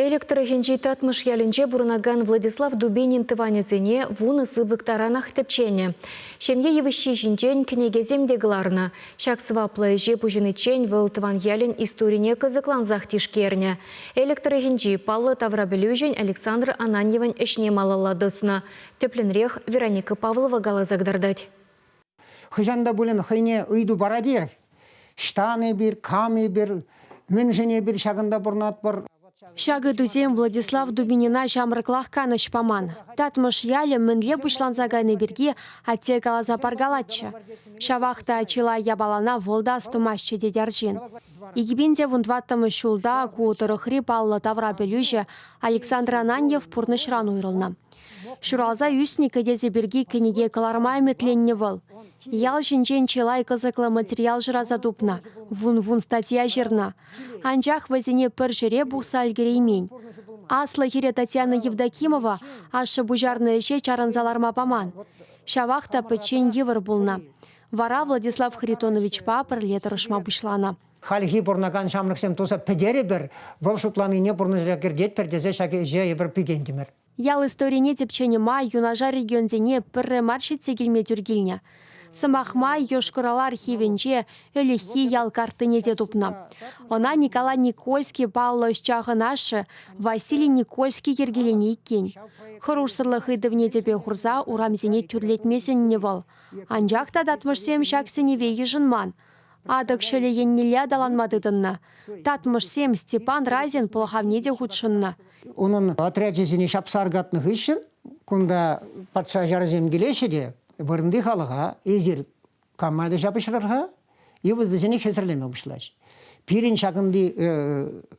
Элӗк тӑрӑхӗнчи Татмӑш ялӗнче пурӑнакан Владислав Дубинин тӑванӗсене вунӑ сыпӑк таранах тӗпченӗ. Ҫемье йывӑҫҫи ҫинчен кӗнекесем те кӑларнӑ. Ҫак сӑваплӑ ӗҫе пуҫӑниччен вӑл тӑван ялӗн историне кӑсӑклансах тишкернӗ. Элӗк тӑрӑхӗнчи паллӑ таврапӗлӳҫӗн Александр Ананьевӑн ӗҫне малалла тӑснӑ. Тӗплӗнрех Вероника Павлова каласа кӑтартать. Хӑҫан та пулин хӑйне ыйту паратех. Ҫтан эпир, кам эпир, мӗншӗн эпир ҫакӑнта пурӑнатпӑр? Ҫак ыйтусем Владислав Дубинина ҫамрӑклах канӑҫ паман. Татмӑш ялӗ мӗнле пуҫланса кайни пирки атте каласа паркалатчӗ. Ҫавах та чылай япалана вӑл та астумастчӗ тет арҫын. Икӗпин те вун тӑваттӑмӗш ҫулта ку тӑрӑхри паллӑ тавра пӗлӳҫӗ Александр Ананьев пурнӑҫран уйрӑлнӑ. Ҫуралса ӳснӗ кӗтесӗ пирки кӗнеке кӑларма ӗмӗтленнӗ вӑл. Ял ҫинчен чылай кӑсӑклӑ материал шыраса тупнӑ, вун-вун статья ҫырнӑ. Анчах вӗсене пӗр ҫӗре пухса ӗлкӗреймен. Аслӑ хӗре Татьяна Евдокимова ашшӗ пуҫарнӑ ӗҫе чарӑнса ларма паман. Ҫавах та пӗччен йывӑр пулнӑ. Вара Владислав Харитоновичпа пӗрле тӑрӑшма пуҫланӑ. Хальхи пурӑнакан ҫамрӑксем туса пӗтерӗпӗр, вӑл шутланине пурнӑҫа кӗртетпӗр тесе ҫак ӗҫе эпир пикентӗмӗр. Ял историне тӗпченӗ май юнашар регионсене пӗрре мар ҫитсе килме тӳр килнӗ. Сӑмах май, Йошкар-Ола архивӗнче ӗлӗкхи ял картине те тупнӑ. Ӑна Николай Никольский паллӑ ӑсчахӑн ашшӗ Василий Никольский йӗркеленӗ иккен. Хӑрушсӑрлӑх ыйтӑвне тӗпе хурса урамсене тӳрлетме сӗннӗ вӑл. Анчах та татмӑшсем ҫак сӗнӗве йышӑнман. Атӑк ҫӑлӗ еннелле аталанма тытӑннӑ. Татмӑшсем Степан Разин пӑлхавне те хутшӑннӑ. Унӑн отрячӗсене ҫапса аркатнӑ хыҫҫӑн кунта патша ҫарӗсем килеҫҫӗ те вырӑнти халӑха эсир кама та ҫапӑҫрӑр-ха, и вот вӗсене хӗсӗрлеме пуҫлаҫ. Пирӗн ҫакӑнти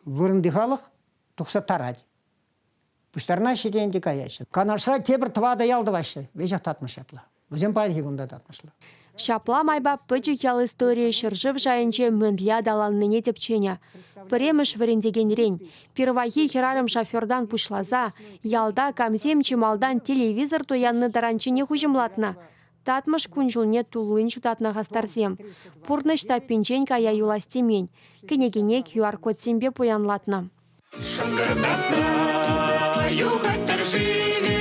вырӑнти халӑх тухса тарать. Пуҫтарнаҫҫӗ те ӗнтӗ каяҫҫӗ. Канашра тепӗр тӑватӑ ял тӑваҫҫӗ. Веҫех татмӑш ятлӑ. Вӗсем паянхи кун та татмӑшлӑ. Ҫапла майпа пӗчӗк ял историйӗ ҫӗршыв шайӗнче мӗнле аталаннине тӗпченӗ. Пӗрремӗш вӗрентекенрен, пирвайхи хӗрарӑм-шофертан пуҫласа ялта камсем чи малтан телевизор туяннӑ таранчченех уҫӑмлатнӑ. Татмӑш кун-ҫулне туллин ҫутатнӑ хастарсем. Пурнӑҫ таппинчен кая юлас темен. Кӗнекене QR-кодсемпе пуянлатнӑ. Шӑнкӑратса юхать-тӑр шывӗ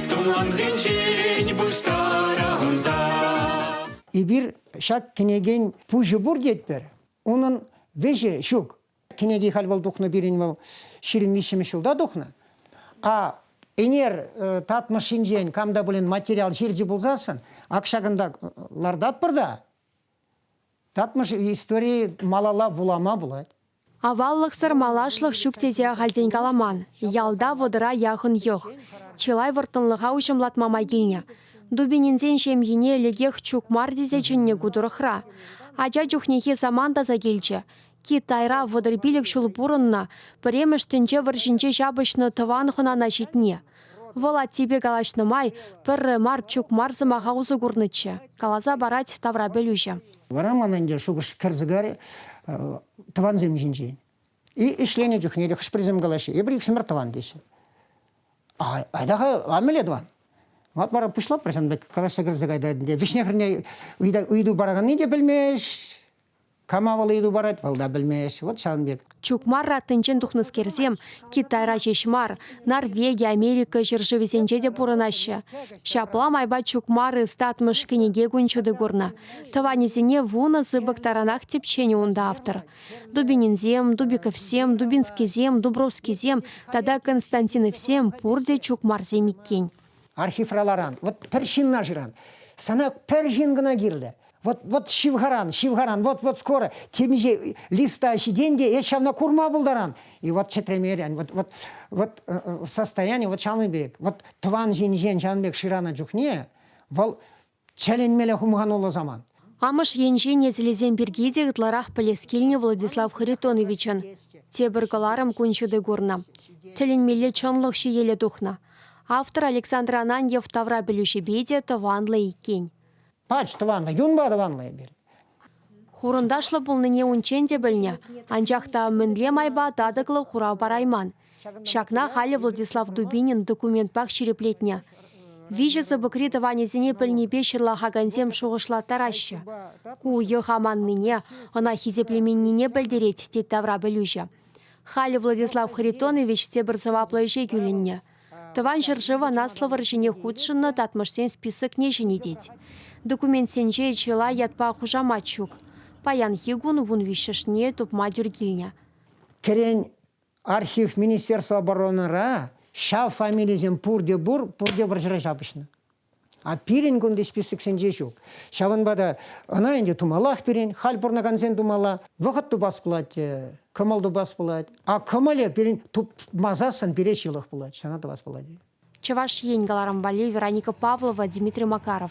тумлансенчен пуҫтара ӑнса. Эпир ҫак кӗнекен пуҫӗ пур тетпӗр, унӑн вӗҫӗ ҫук. Кӗнеки халь вӑл тухнӑ пирӗн вӑл ҫирӗм виҫҫӗмӗш ҫулта тухнӑ. А ӗнер татмӑш ҫинчен кам та пулин материал ҫырчӗ пулсассӑн ак ҫакӑнта лартатпӑр та Татмӑш истории малалла вулама пулать. Аваллӑхсӑр малашлӑх ҫук тесе ахальтен каламан. Ялта вӑтӑра яхӑн йӑх. Чылай вӑрттӑнлӑха уҫӑмлатма май килнӗ. Дубининсен ҫемйине лекех чук мар тесе чӗннӗ ку тӑрӑхра. Ача чухнехи самант аса килчӗ. Китайра вӑтӑр пилӗк ҫул пурӑннӑ, пӗрремӗш тӗнче вӑрҫинче ҫапӑҫнӑ тӑван хӑнана ҫитни. Вӑл аттепе калаҫнӑ май пӗрре мар чук мар сӑмаха усӑ курнӑччӗ, каласа парать таврапӗлӳҫӗ. Вара ман ӗнтӗ шухӑш кӗр сӑкарӗ тӑвансем ҫинчен. И ӗҫленӗ чухне те хӑш-пӗрисем калаҫҫӗ, эпир иксӗмӗр тӑван теҫҫӗ. Айта-ха, а мӗнле тӑван? Ват вара пуҫлапӑр сан пек калаҫса кӗрсе кайтатӑн те. Вӗҫне-хӗрне ыйту параканни те пӗлмест, Кама вӑл ыйту парать, вӑл та пӗлмест. Вот ҫавӑн пек. Чукмар раттинчен тухнӑскерсем Китайра ҫеҫ мар, Норвеги, Америка ҫӗршывӗсенче те пурӑнаҫҫӗ. Ҫапла майпа Чукмар ӑстатмӑш кӗнеке кун ҫутӑ курнӑ. Тӑванӗсене вунӑ сыпӑк таранах тӗпченӗ унта автор. Дубининсем, Дубиковсем, Дубинскисем, Дубровскисем тата Константиновсем пурте чукмарсем иккен. Архивра ларан, вот пӗр ҫынна шыран, сана пӗр ҫын кӑна кирлӗ. Вот, вот ҫывхаран, ҫывхаран, вот, вот скоро темиҫе листа ҫитен те эс ҫавна курма пултаран. И вот чӗтремерен, вот, вот, вот э, э, состояние вот ҫавӑн пек, вот тӑван ҫинчен ҫавӑн пек шырана чухне вӑл чӗленмелле хумхануллӑ саман. Амӑш енчен несӗлӗсем пирки те ытларах пӗлес килнӗ Владислав Харитоновичӑн. Тепӗр кӑларӑм кун ҫути курнӑ. Тӗлӗнмелле чӑнлӑх ҫиеле тухнӑ. Автор Александр Ананьев тавра пӗлӳҫӗпе те тӑванлӑ иккен. Пач тӑванлӑ, юнпа тӑванлӑ эпир. Хурӑнташлӑ пулнине унччен те пӗлнӗ, анчах та мӗнле майпа татӑклӑ хурав парайман. Ҫакна халӗ Владислав Дубинин документпах ҫирӗплетнӗ. Виҫӗ сыпӑкри тӑванӗсене пӗлнипе ҫырлахакансем шухӑшлаттараҫҫӗ. Ку йӑх аманнине, ӑна хисеплеменнине пӗлтерет, тет тавра пӗлӳҫӗ. Халӗ Владислав Харитонович те пӗр сӑваплӑ ӗҫе кӳлӗннӗ. Тӑван ҫӗршывӑн Аслӑ вӑрҫине хутшӑннӑ татмӑшсен списокне ҫӗнетет. Документсенче чылай ятпа хушамат ҫук. Паянхи кун вун виҫҫӗшне тупма тӳр килнӗ. Кӗрен архив министерство оборонӑра ҫав фамилисем пурте пур, пурте вӑрҫӑра ҫапӑҫнӑ. А пирӗн кунти списоксенче ҫук. Ҫавӑнпа та ӑна ӗнтӗ тумаллах пирӗн, халь пурӑнакансен тумалла. Вӑхӑт тупас пулать, э, кӑмӑл тупас пулать. А кӑмӑлӗ пирӗн тупмасассӑн пире ҫылӑх пулать, ҫана тӑвас пулать. Чӑваш Ен каларӑм валли Вероника Павлова, Дмитрий Макаров.